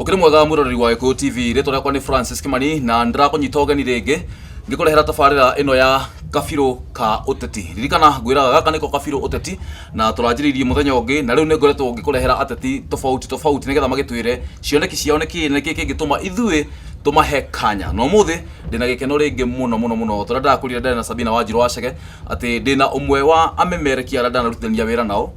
Ũkĩrĩ mwega mwĩroreri wa Gĩkũyũ TV, rĩtwa rĩakwa nĩ Francis Kimani na ndĩrakũnyita ũgeni rĩngĩ ngĩkũrehera tabarĩra ĩno ya kabirũ ka ũteti. Ririkana ngwĩraga gaka nĩko kabirũ ũteti na tũranjĩrĩirie mũthenya ũngĩ na rĩu nĩ ngoretwo ngĩkũrehera ateti tofauti tofauti nĩgetha magĩtwĩre cioneki ciao nĩ kĩĩ na nĩkĩĩ kĩngĩtũma ithuĩ tũmahe kanya. Na ũmũthĩ ndĩna gĩkeno rĩngĩ mũno mũno mũno tondũ ndakwĩrire ndĩna Sabina Wanjirũ wa Chege atĩ ndĩna ũmwe wa amemerekia arĩa ndanarutithania wĩra nao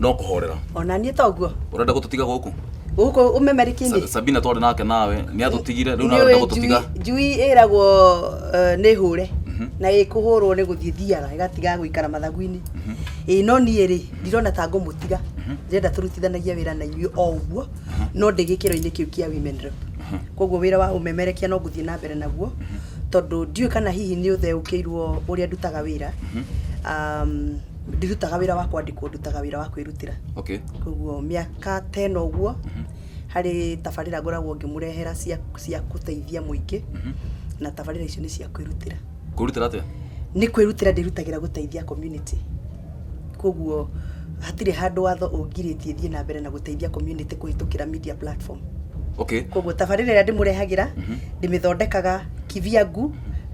no kũhorera ona niĩ toguo ũrenda gũtũtiga gũkũ gũkũ ũmemeri kĩni Sa- sabina twarĩ nake nawe nĩ atũtigire rĩu nawe ũrenda gũtũtiga njui ĩragwo eh, nĩ hũre na ĩkũhũrwo nĩ gũthiĩ thiara ĩgatiga gũikara mathagu-inĩ ĩ no niĩ rĩ ndirona ta ngũmũtiga ndĩrenda tũrutithanagia wĩra na inyuĩ o ũguo no ndĩ gĩkĩro-inĩ kĩu kĩa women rep koguo wĩra wa ũmemerekia no ngũthiĩ na mbere naguo tondũ ndiũĩ kana hihi nĩ ũtheũkĩirwo ũrĩa ndutaga wĩra um, ndirutaga wĩra wa kwandĩkwo ndutaga wĩra wa kwĩrutĩra okay koguo mĩaka tena ũguo harĩ tabarĩra ngoragwo ngĩmũrehera cia cia gũteithia mũingĩ na tabarĩra icio nĩ cia kwĩrutĩra kũrutĩra atĩa nĩ kwĩrutĩra ndĩrutagĩra gũteithia community koguo hatirĩ handũ watho ũngirĩtie thiĩ na mbere na gũteithia community kũhĩtũkĩra media platform okay koguo tabarĩra ĩrĩa ndĩmũrehagĩra ndĩmĩthondekaga kivyangu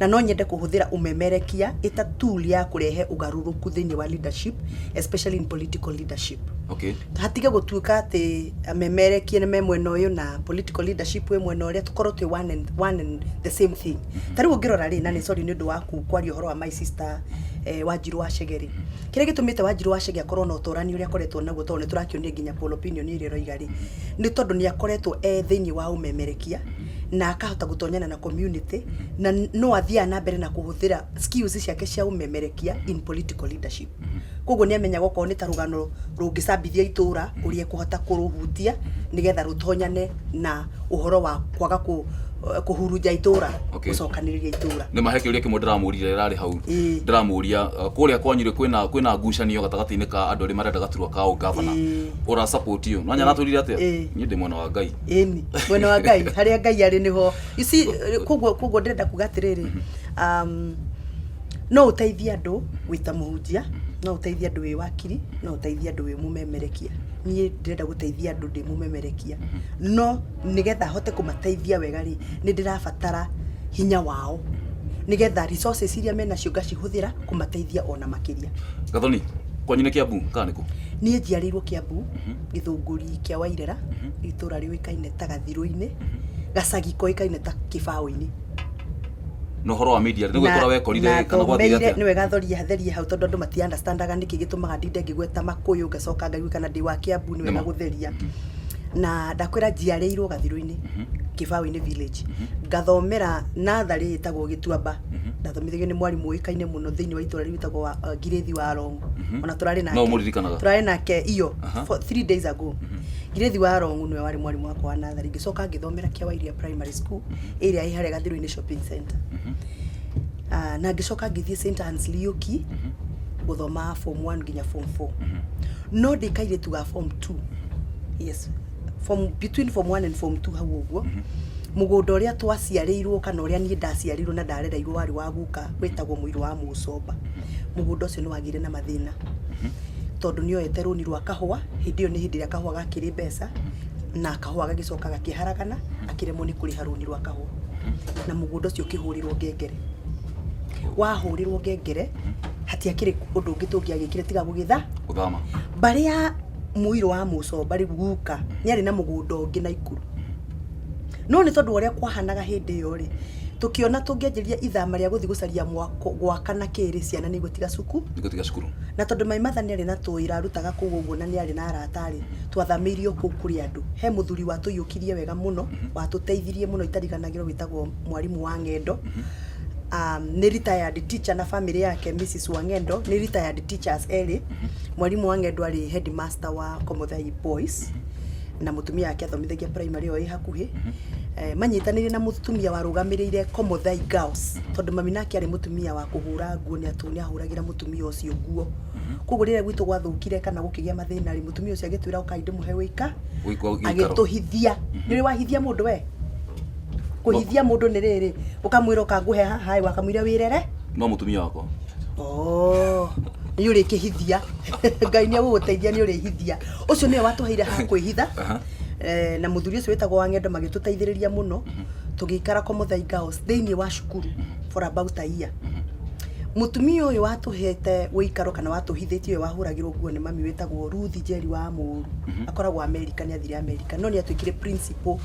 Na no nyende kũhũthĩra ũmemerekia ĩta tool ya kũrehe ũgarũrũku thĩinĩ wa leadership, especially in political leadership. Okay. Hatige gũtuĩka atĩ amemerekia nĩ me mwena ũyũ na political leadership wĩ mwena ũrĩa tũkorwo twĩ one and, one and the same thing. Ta rĩu ũngĩrora rĩ, na nĩ sorry nĩ ũndũ waku kwaria ũhoro wa my sister eh, Wanjirũ wa Chege rĩ. Kĩrĩa gĩtũmĩte Wanjirũ wa Chege akorwo na ũtorani ũrĩa akoretwo naguo tondũ nĩ tũrakĩonia nginya poll opinion ĩrĩa ũroiga rĩ, nĩ tondũ nĩ akoretwo e thĩinĩ wa ũmemerekia na akahota gũtonyana na community na n- no athiaga na mbere na kũhũthĩra skills ciake cia ũmemerekia in political leadership koguo nĩ amenyaga okorwo nĩ ta rũgano rũngĩcambithia itũũra ũrĩa ekũhota kũrũhutia nĩgetha rũtonyane na ũhoro wa kwaga kũ- kũhurunja itũũra Okay. gũcokanĩrĩria itũũra nä mahe kä å ria kä mwe ndäramårire rarä hau Ĩĩ. ndäramå ria kå rä a kwanyurä kwä na ngucanio gatagatĩ-inä ka andå erä marenda gaturwa kao ngavana Ĩĩ. å racapåti å nanya natwä rire atä Ĩĩ. niä ndä mwena wa ngai ĩni mwena wa ngai harĩa ngai arĩ nĩho You see, eh, koguo koguo ndĩrenda kuga atĩrĩrĩ um, no ũteithie andũ wĩta mũhunjia no ũteithie andũ wĩ wakiri no ũteithie andũ wĩ mũmemerekia niĩ ndĩrenda gũteithia andũ ndĩ mũmemerekia no nĩgetha hote kũmateithia wega rĩ nĩ ndĩrabatara hinya wao nĩgetha resources iria menacio ngacihũthĩra kũmateithia ona makĩria gathoni kwanyu nĩ kĩambu kana nĩkũ niĩ njiarĩirwo kĩambu gĩthũngũri kĩa wairera itũra rĩũĩkaine ta gathirũ-inĩ gacagi koĩkaine ta kĩbaũ-inĩ na ũhoro wa media nĩ gwĩkora wekorire kana gwathire thomeire atĩa nĩwe gathorire hatherie hau tondũ andũ mati understandaga nĩkĩ gĩtũmaga ndinde ngĩgweta makũyũ ngacoka ngaigua kana ndĩ wa kĩambu nĩwe Nĩma. gagũtheria na ndakwĩra njiarĩirwo gathirũ-inĩ kĩbaũ-inĩ village ngathomera natharĩ ĩtagwo gĩtuamba ndathomithagio nĩ mwarimũ ũĩkaine mũno thĩinĩ wa itũra rĩu ĩtagwo wa- ngirĩthi wa rongo ona tũrarĩ nake No mũririkanaga? tũrarĩ nake iyo Aha. for three days ago ngirĩthi wa rongu nĩwe warĩ mwarimũ wakwa wa nathari ngĩcoka ngĩthomera kĩa wairia primary school ĩrĩa ĩ harĩa gathirũ-inĩ shopping center Ah, na ngĩcoka ngĩthiĩ st hans liuki gũthoma form 1 nginya form 4 no ndĩ kairĩtu ga form 2 yes form, between form 1 and form 2 hau ũguo mũgũnda ũrĩa twaciarĩirwo kana ũrĩa niĩ ndaciarirwo na ndarereirwo warĩ wa guka wĩtagwo mũirũ wa mũcomba mũgũnda ũcio nĩ wagĩire na mathĩna tondũ nĩ oyete rũni rwa kahũa hĩndĩ ĩyo nĩ hĩndĩ ĩrĩa kahũa gakĩrĩ mbeca na kahũa gagĩcoka gakĩharagana akĩremwo nĩ kũrĩha rũni rwa kahũa na mũgũnda ũcio ũkĩhũrĩrwo ngengere wahũrĩrwo ngengere hatiakĩrĩ ũndũ ũngĩ tũngĩagĩkire tiga gũgĩtha Gũthama. mbarĩ ya mũirũ wa mũcomba rĩu guka nĩ arĩ na mũgũnda ũngĩ na ikuru No nĩ tondũ wa ũrĩa kwahanaga hĩndĩ ĩyo-rĩ, tũkĩona tũngĩanjĩrĩria ithama rĩa gũthiĩ gũcaria mwako gwaka na kĩrĩ ciana nĩ igũtiga cuku. Nĩ gũtiga cukuru. Na tondũ Mai Matha nĩ arĩ na tũũi rarutaga kũu ũguo na nĩ arĩ na arata-rĩ, twathamĩirio kũu kũrĩ andũ. He mũthuri watũiyũkirie wega mũno, watũteithirie mũno itariganagĩrwo wĩtagwo mwarimũ wa Ng'endo. Nĩ retired teacher na family yake Mrs. Wa Ng'endo nĩ retired teachers erĩ. Mwarimũ wa Ng'endo arĩ headmaster wa Komothai Boys. na mutumia wake athomithagia primary ĩyo ĩ hakuhĩ Eh, manyitanĩire na mutumia warũgamĩrĩire Komothai Girls tondũ mami nake arĩ mutumia wa kũhũra nguo nĩ atũ nĩ ahũragĩra mutumia ũcio nguo koguo rĩrĩa gwitũ gwathũkire kana gũkĩgĩa mathĩna rĩ mutumia ũcio agĩtwĩra ũkai ndĩmũhe wĩika Ũikwa- ũikaro. agĩtũhithia nĩ ũrĩ wahithia mũndũ we kũhithia mũndũ nĩ rĩrĩ ũkamwĩra ũkangũhe haha ĩ, wakamwĩra wĩrere no mutumia wakwa Oh, nĩ ũrĩkĩhithia ngai nĩ agũgũteithia nĩ ũrĩhithia ũcio nĩwe watũheire ha kwĩhitha Aha. eh, na mũthuri ũcio wĩtagwo wa ng'endo magĩtũteithĩrĩria mũno tũgĩikara komothainga house thĩinĩ wa cukuru for about a year mũtumia ũyũ watũhete ũikaro kana watũhithĩtie ũyũ wahũragĩrwo nguo nĩ mami wĩtagwo Ruth Njeri wa Mũru akoragwo Amerika nĩ athire Amerika no nĩ atuĩkire principal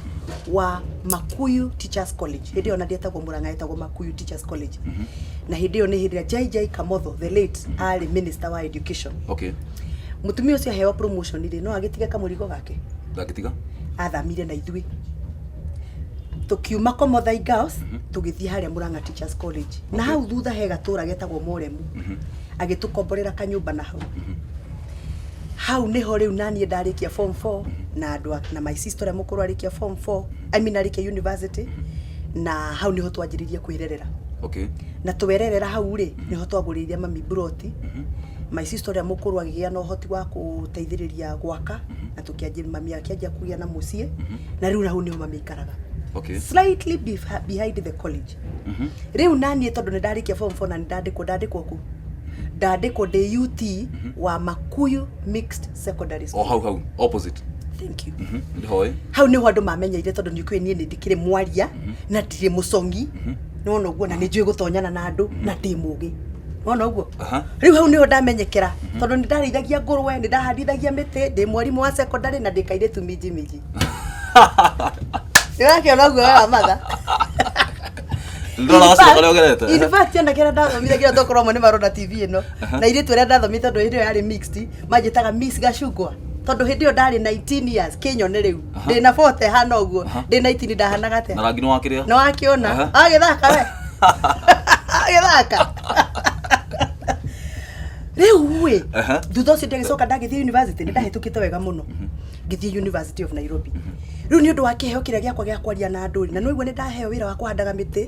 wa Makuyu Teachers College hĩndĩ ĩyo ona ndĩetagwo Murang'a yetagwo Makuyu Teachers College na hĩndĩ ĩyo nĩ hĩndĩ ĩrĩa JJ Kamotho the late arĩ minister wa education okay mutumia ucio aheo promotion ri no agitige kamurigo gake ndangitiga athamire na ithui tukiuma komothai girls mhm. tugithie haria muranga teachers college na hau thutha he gatura getagwo moremu mhm. agitukomborera kanyumba na hau mhm. hau niho riu nanie ndarikia form 4 na andu na my sister ya mukuru arikia form 4 i mean arikia university na hau niho twanjiririe kwirerera okay na twererera hau ri niho twagurire mami broti my sister ũrĩa mũkũrũ agĩgĩa na ũhoti wa kũteithĩrĩria gwaka na tũkĩanjia mami akĩanjia kũgĩa na mũciĩ na rĩu nahau nĩho mami aikaraga Okay. slightly bef- behind the college rĩu naniĩ tondũ nĩ ndarĩkia form four na nĩ ndandĩkwo ndandĩkwo kũ ndandĩkwo ndĩ ut wa makuyu mixed secondary o school hau hau opposite thank you Mhm, ndihoĩ hau nĩho andũ mamenyeire tondũ nĩ kwĩ niĩ nĩ ndikĩrĩ mwaria na ndirĩ mũcongi nĩwona ũguo na nĩ njũĩ gũtonyana na andũ na ndĩ mũgĩ wona ũguo Aha. rĩu hau nĩho ndamenyekera tondũ nĩ ndarĩithagia ngũrwe nĩ ndahandithagia mĩtĩ ndĩ mwarimũ wa secondary na ndĩkaire tu minji minji nĩwakiona ũguo wa matha ndona wacira karĩa ũgerete In fact, anake arĩa ndathomire nginya tokorwo amwe nĩ marona tv ĩno na irĩtu arĩa ndathomire tondũ hĩndĩ ĩyo yarĩ mixed manjĩtaga miss gacungwa tondũ hĩndĩ ĩyo ndarĩ 19 years kĩnyone rĩu Aha. ndĩ na 40 hana ũguo Aha. ndĩ 19 ndahanaga atĩa na rangi nĩ wakĩrĩa nĩ wakĩona Aha. agĩthaka we agĩthaka rĩu ĩ Aha. thutha ũcio ndagĩcoka ndagĩthiĩ university nĩ ndahĩtũkĩte wega mũno ngĩthiĩ university of nairobi rĩu nĩ ũndũ wa kĩheo kĩrĩa gĩakwa gĩa kwaria na andũ rĩ, na nĩguo nĩ ndaheo wĩra wa kũhandaga mĩtĩ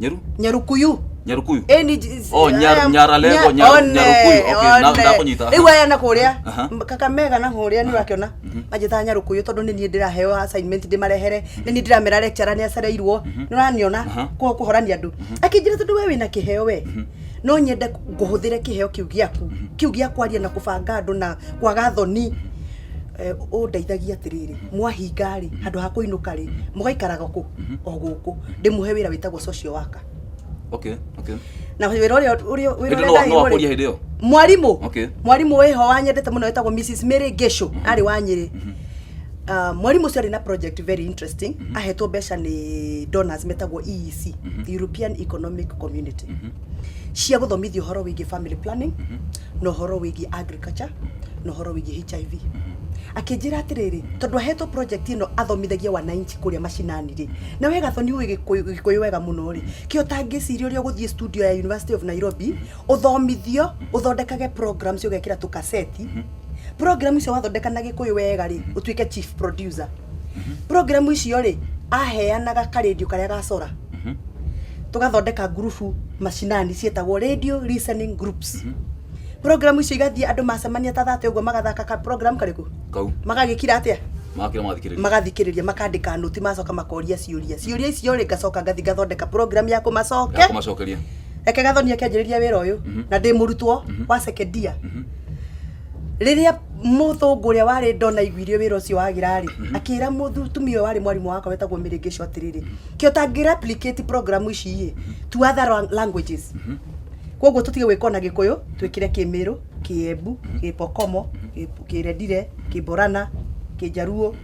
Nyaru? nyarukuyu Nyarukuyu? Eni j- z- Oh, Nyar- um, Nyaralego, Nya- Nyaru- one, Nyarukuyu. Okay, na- one. ndakũnyita. rĩu aya na kũrĩa Aha. m- kakamega na kũrĩa nĩ ũrakĩona manjĩtaga nyarukuyu tondũ nĩ niĩ ndĩraheo assignment ndĩmarehere nĩ niĩ ndĩramera lecturer nĩ acereirwo nĩ ũraniona Aha. kũ- kũhorania andũ akĩnjĩra tondũ we wĩna kĩheo we no nyende ngũhũthĩre kĩheo kĩu gĩaku mhm. kĩu gĩa kwaria na kũbanga andũ na kwaga thoni mhm. eh, ũndeithagia atĩrĩrĩ mhm. mwahinga rĩ handũ ha kũinũka rĩ mũgaikaraga kũ o gũkũ ndĩmũhe wĩra wĩtagwo social worker okay okay na wä ra å rä a mwarimå mwarimå wä ho wanyendete må no wä tagwo mrs mary gesho arä wa nyä rä Uh, mwarimũ ũcio arĩ na project very interesting mm -hmm. ahetwo mbeca nĩ donors metagwo EEC mm -hmm. European Economic Community mm -hmm. cia gũthomithia ũhoro wĩgiĩ family planning mm -hmm. na ũhoro wĩgiĩ agriculture mm -hmm. na ũhoro wĩgiĩ HIV mm -hmm. akĩnjĩra atĩrĩrĩ mm -hmm. tondũ ahetwo project ĩno athomithagia wananchi kũrĩa macinani rĩ na wega thoni ũĩ gĩkũyũ wega mũno rĩ kĩo tangĩciria ũrĩa ũgũthiĩ studio ya University of Nairobi mm -hmm uthomithio uthondekage programs ugekira tu cassette program icio wathondeka na gikuyu wega ri utuike chief producer program icio ri aheanaga ka radio karia gacora tugathondeka ngurubu macinani ciĩtagwo radio listening groups program icio igathiĩ andũ macemania ta thate ũguo magathaka ka program karĩkũ kau magagĩkira atĩa makira mathikiriria magathikĩrĩria makandĩka nũti macoka makoria ciũria ciũria icio rĩ ngacoka ngathi ngathondeka program ya kũmacokia kumacokeria reke gathoni akĩanjĩrĩria wĩra ũyũ na ndĩ mũrutwo wa sekendia rĩrĩa mũthũngũ ũrĩa warĩ ndona aiguire wĩra ũcio wagira rĩ akĩra mũtumia ũyũ warĩ mwarimũ wakwa wetagwo mĩrĩngĩco atĩrĩrĩ kĩ ũtangĩ replicate program ici ĩ tu other lang- languages koguo tũtige gwĩka ona gĩkũyũ twĩkĩre kĩmĩrũ kĩembu kĩpokomo kĩrendire kĩmborana kĩnjaruo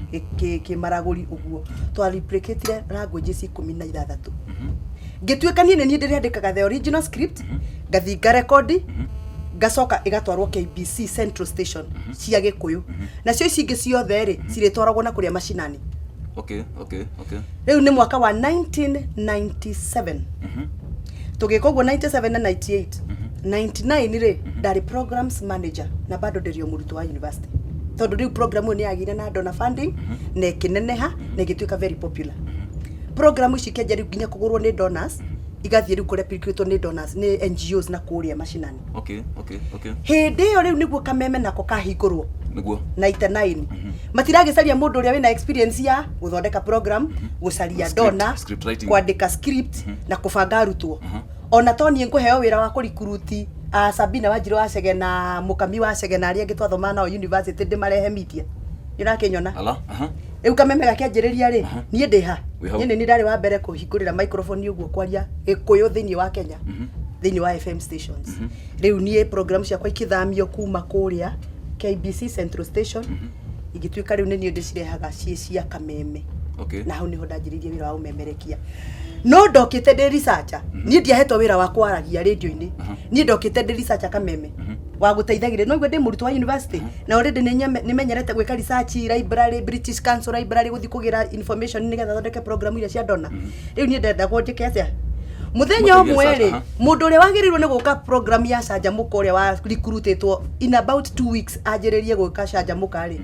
kĩmaragũri ũguo twa replicatire languages ikũmi na ithathatũ ngĩtuĩka niĩ nĩ niĩ ndĩrĩandĩkaga the original script ngathi ngarekondi ngacoka ĩgatwarwo KBC Central Station cia Gĩkũyũ nacio ici ingĩ ciothe rĩ cirĩtwaragwo na kũrĩa macinani okay okay okay rĩu nĩ mwaka wa 1997 tũgĩka ũguo 97 na 98 99 rĩ ndarĩ programs manager na bado ndĩrĩ o mũrutwo wa university tondũ rĩu program ĩyo nĩ yagĩire na dona funding na ĩkĩneneha na ĩgĩtuĩka very popular program ici ikĩanjia rĩu nginya kũgũrwo nĩ donors igathiĩ rĩu kũreplicatwo nĩ donors nĩ NGOs na kũrĩa mashinani okay okay okay hĩndĩ ĩyo rĩu nĩguo kameme nako kahingũrwo nĩguo na itanaini matiragĩcaria mũndũ ũrĩa wĩna experience ya gũthondeka program gũcaria Script, dona script writing. kwandĩka script na kũbanga arutwo ona to niĩ ngũheo wĩra wa kũrikuruti a Sabina Wanjirũ wa Chege na Mũkami wa Chege na arĩa angĩ twathomaga nao university ndĩmarehe media nĩũrakĩnyona ala aha rĩu kameme gakĩanjĩrĩria rĩ niĩ ndĩ ha Wĩ hau. niĩ nĩ niĩ ndarĩ wa mbere kũhingũrĩra microphone ũguo kwaria gĩkũyũ thĩinĩ wa kenya thĩinĩ wa fm stations rĩu niĩ program ciakwa ikĩthamio kuma kũrĩa kbc central station igĩtuĩka rĩu nĩ niĩ ndĩcirehaga ciĩ cia kameme okay na hau niho ndanjĩrĩirie wĩra wa ũmemerekia no ndokĩte ndĩ researcher niĩ ndiahetwo wĩra wa kwaragia rĩndio-inĩ niĩ ndokĩte ndĩ researcher kameme wa gũteithagĩrĩria noigua ndĩ mũrutwo wa university na already nĩ nyame- nĩ menyerete gwĩka research library british council library gũthiĩ kũgĩra information nĩgetha thondeke program iria cia ndona rĩu niĩ ndendagwo njĩke atĩa mũthenya Mũteithie ũmwe research, rĩ aha. mũndũ ũrĩa wagĩrĩirwo nĩ gũka program ya canjamũka ũrĩa wa recruitĩtwo in about two weeks anjĩrĩrie gwĩka canjamũka rĩ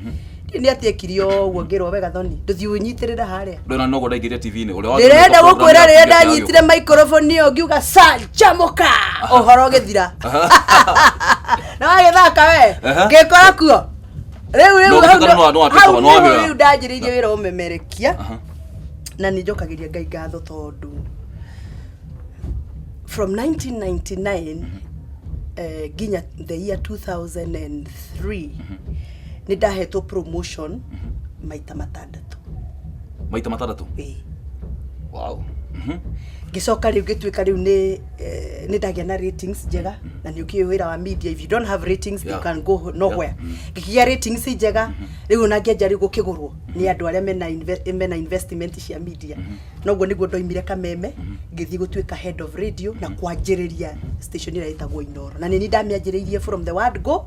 Nĩ atĩ ekire ũguo ngĩrwo wega thoni. Ndũthiĩ ũnyitĩrĩre harĩa. Ndona no gũtha ingĩte TV-inĩ. Ũrĩa wagĩrĩirwo Ndĩrenda gũkorwo gũkwĩra rĩrĩa ndamũkinyĩte ndanyitire maikoroboni ĩyo ngiuga canjamũka ũhoro ũgĩthira. Na wagĩthaka we Aha. ngĩkora kuo. Rĩu rĩu Nĩ hau ũgũtuĩka nĩ wa- nĩ wa nĩ- hau Twitter, nĩ wa nĩho Mĩoya. rĩu ndanjĩrĩirie wĩra wa ũmemerekia Aha. na nĩ njokagĩria ngai ngatho tondũ from 1999 eh, nginya the year 2003 nĩ ndahetwo promotion maita matandatũ maita matandatũ Ĩĩ. wow Mhm. ngĩcoka rĩu ngĩtuĩka rĩu nĩ eh, nĩ ndagĩa na ratings njega na nĩ ũkĩũĩ wĩra wa media if you don't have ratings Yeah. you can go nowhere Yeah. Mm. ngĩkĩgĩa ratings njega rĩu ona ngĩanjia rĩu gũkĩgũrwo nĩ andũ arĩa mena inve- mena investment cia media noguo nĩguo ndoimire kameme ngĩthiĩ gũtuĩka head of radio na kwanjĩrĩria station ĩrĩa ĩtagwo inoro na nĩ niĩ ndamĩanjĩrĩirie from the word go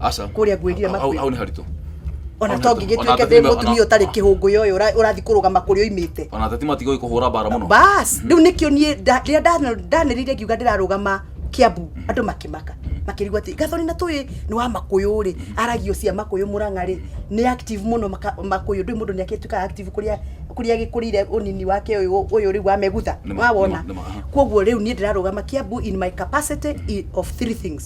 aca Kũrĩa ngwĩrire Hau- makuĩte. hau nĩ haritũ ona Ona to ta- ona ngĩgĩtuĩke ta ndĩ thime- mũtumia ona- ũtarĩ kĩhũngũyo ũyũ ũra- ũrathiĩ kũrũgama kũrĩa oimĩte ona tati matigoĩ kũhũra mbara mũno bas rĩu nĩkĩo niĩ nda- rĩrĩa ndana- ndanĩrĩire ngiuga ndĩrarũgama kĩambu andũ makĩmaka makĩrigwo atĩ gathoni na tũĩ nĩ wa makũyũ rĩ aragio cia makũyũ mũrang'a rĩ nĩ active mũno maka- makũyũ ndũĩ mũndũ nĩ akĩtuĩkaga active kũrĩa kũrĩa gĩkũrĩire ũnini wake ũyũ ũyũ rĩu wamegutha Nĩma, wawona nĩma, nĩma, aha. kwoguo rĩu niĩ ndĩrarũgama kĩambu in my capacity i- of three things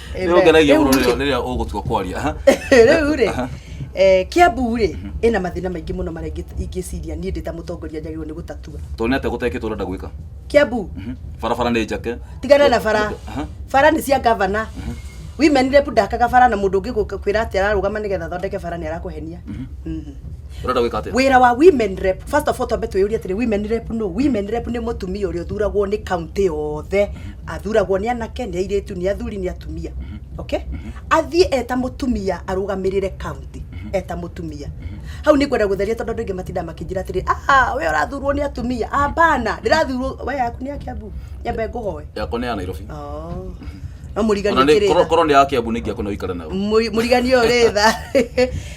Rĩu ongereire Rĩu ũhoro rĩ- rĩrĩa ũgũtua kwaria. Aha. rĩu rĩ Aha. eh, kiambu rĩ ĩna mathĩna maingĩ mũno marĩa ingĩ- ingĩciria niĩ ndĩ ta mũtongoria njagĩrĩirwo nĩ gũtatua Tondũ nĩ atĩa gũtekĩtwo ũrenda gwĩka. kiambu Mhm. Barabara nĩ njake. tigana na bara Aha. bara nĩ cia gavana women rep ndakaga bara na mũndũ ũngĩ kwĩra atĩ ararũgama nĩgetha athondeke bara nĩ arakũhenia Mhm. Mhm. Ũrenda gwĩka atĩa? wĩra wa women rep first of all twambe twĩyũrie atĩrĩ women rep no women rep nĩ mũtumia ũrĩa ũthuragwo nĩ kaunti yothe athuragwo nĩ anake nĩ airĩtu nĩ athuri nĩ atumia okay athiĩ eta mũtumia arũgamĩrĩre kaunti eta mũtumia hau nĩ ngwenda gũtheria tondũ andũ aingĩ matindaga makĩnjĩra atĩrĩ ah we ũrathurwo nĩ atumia ah bana ndĩrathurwo we yaku nĩ akĩambu nyambe ngũhoe Yakwa nĩ ya Nairobi. Oh. no mũrigani Ona nĩ- ũkĩrĩ korwo- tha korwo nĩ ya Kiambu nĩ ingĩakwa na ũikare nao. Mũri- mũrigani ũyũ ũrĩ tha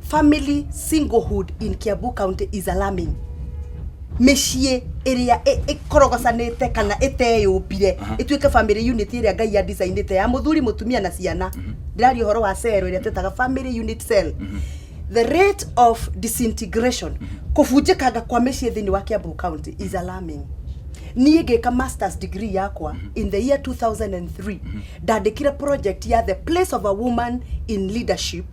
family singlehood in Kiambu County is alarming mĩciĩ ĩrĩa ĩkorogocanĩte kana ĩteyũmbire ĩtuĩke family unit ĩrĩa ngai ya designĩte ya mũthuri mũtumia na ciana ndĩraria ũhoro wa cell ĩrĩa twĩtaga family unit cell the rate of disintegration kũbunjĩkanga kwa mĩciĩ thĩinĩ wa Kiambu County is alarming niĩ ngĩka masters degree yakwa in the year 2003 ndandĩkire project ya the place of a woman in leadership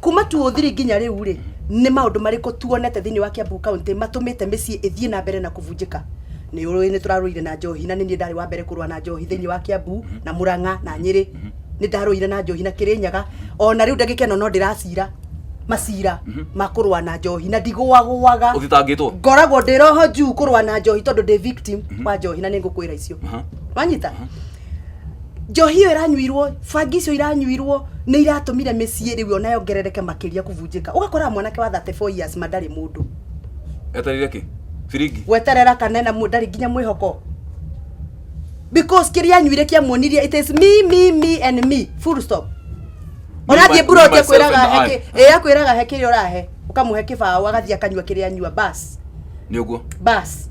kuma tuothiri nginya riu ri ni maundu mariku tuonete thiini wa Kiambu County matumite micii ithie na mbere na kuvunjika ni uri ni turarũire na njohi na ni nie ndari wa mbere kurwa na njohi thiini wa Kiambu na Murang'a na Nyeri ni ndarũire na njohi na Kirinyaga ona riu ndagika ino no ndiracira macira ma kurwa na njohi na ndigũagũaga uthitangitwo ngoragwo ndä roho njuu kå rwa na njohi tondå ndä victim wa njohi na nä ngå kwä ra icio Aha. wanyita njohi ĩyo ĩranyuirwo bangi icio iranyuirwo nĩ iratũmire mĩciĩ rĩu ona yongerereke makĩria kũbunjĩka ũgakoraga mwanake wa 34 years ma ndarĩ mũndũ eterire kĩ biringi weterera kanena mũ- ndarĩ nginya mwĩhoko because kĩrĩa anyuire kĩamuonirie it is me me me and me full stop Me, ona my- thiĩ me, buroti myself akwĩraga and I. heke ĩ akwĩraga he kĩrĩa ũrahe ũkamũhe kĩbaũ agathiĩ akanyua kĩrĩa anyua bas nĩ ũguo bas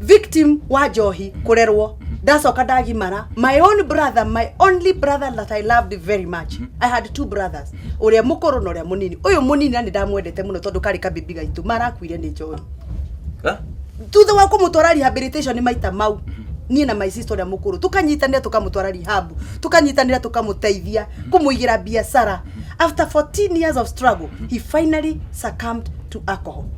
victim wa njohi kurerwo ndacoka ndagimara my own brother my only brother that i loved very much i had two brothers uria mukuru na uria munini uyu munini na ndamwendete muno tondu kari kabibi gaitu marakuire ni njohi Ha? thutha wa kumutwara rehabilitation maita mau niä na my sister ũrĩa mũkũrũ tũkanyitanĩra tũkamũtwara rehab tũkanyitanĩra tũkamũteithia kũmũigĩra biacara after 14 years of struggle he finally succumbed to alcohol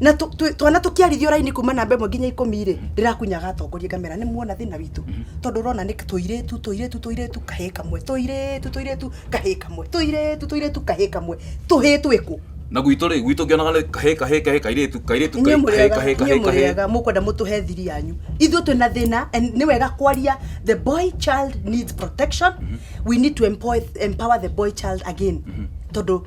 na tũ- tũ- twana tũkĩarithio raini kuma namba ĩmwe nginya ikũmi rĩ ndĩrakunyaga atongoria ngamera nĩ muona thĩna witũ tondũ ũrona nĩ tũirĩtu tũirĩtu tũirĩtu kahĩ kamwe tũirĩtu tũirĩtu kahĩ kamwe tũirĩtu tũirĩtu kahĩ kamwe tũhĩ twĩkũ na gwitå rä gwitå ngäonaga nä kahä kahä kahä kairä tu kairä tu inyuĩ kahä kahä mũrĩaga kahä mũrĩaga mũkwenda mũtũhe thiri yanyu ithuĩ twĩ na thĩna and nĩ wega kwaria the boy child needs protection we need to empower, empower the boy child again tondũ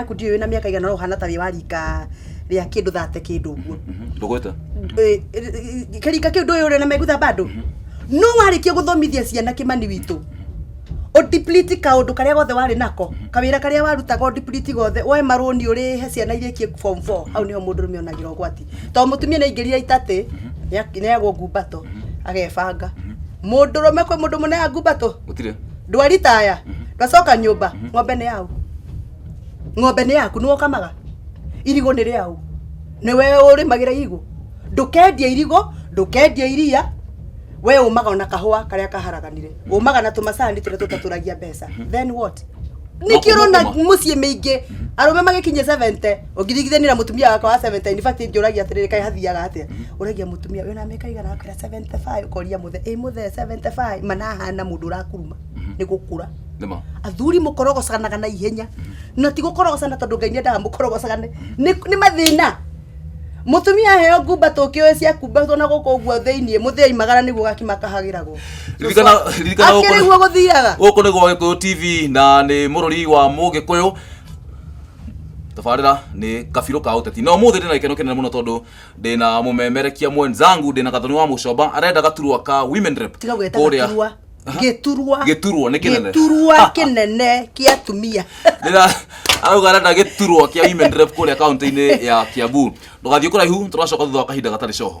yaku ndiũĩ wĩna mĩaka igana no ũhana ta wĩ wa rika rĩa kĩndũ thate kĩndũ ũguo ndũgwĩta Eh, eh, kĩrika kĩu ndũĩ ũrĩ na megutha bado no warĩkia gũthomithia ciana kĩmani witũ ũdipliti kaũndũ karĩa gothe warĩ nako kawĩra karĩa warutaga ũdipliti gothe woe marũni ũrĩhe ciana irĩkie form 4 hau nĩho mũndũ rũme onagĩra ũgwati tondũ mũtumia nĩaingĩrire itatĩ nĩagwo ngumbato agebanga mũndũ rũme kwĩ mũndũ mũnea ngumbato gũtirĩ ndwari taya ndacoka nyũmba ng'ombe nĩ yaũ ng'ombe nĩ yaku nĩwe ũkamaga irigũ nĩ rĩaũ nĩwe ũrĩmagĩra irigũ ndũkendia irigũ ndũkendia iria we ũmaga ona kahũa karĩa kaharaganire ũmaga na tũmacani tũrĩa tũtatũragia mbeca then what nĩkĩ ũrona mũciĩ mĩingĩ arũme magĩkinyia 70 ũngirigithania na mũtumia wakwa wa 70 in fact ngĩũragia atĩrĩrĩ kaĩ hathiaga atĩa ũragia mũtumia wĩna mĩaka igana akwĩra 75 koria muthe ä muthe 75 manahana må ndå ũrakuruma nĩ gå kå ra Nĩma. athuri må korogocanaga na ihenya na ti gå korogocana tondå ngai nä endaga må korogocane nä mathä na må tumia aheo ngumba tå kä å cia kumbatwo na gå kå guo thä iniä må thä magara nä guo gaki makahagä ragwo Ririkana- ririkana akä gũkũ- rä guo gå thiaga gũkũ nĩ gwa gĩkũyũ tv na nĩ mũrũri wa mũgĩkũyũ tabarĩra nĩ kabirũ ka ũteti na ũmũthĩ ndĩna gĩkeno kĩnene mũno tondũ ndina mumemerekia mwenzangu ndina gathoni wa mucoba arenda gaturwa ka women rep tiga gweta Kũrĩa. gĩturwa gĩturwa Gĩturwa nĩ kĩnene. gĩturwa kĩnene kĩa atumia ndina arauga arenda giturwa kia women rep kuria kaunti-ini ya kiambu ndugathie kuraihu turacoka thutha wa kahinda gatari coho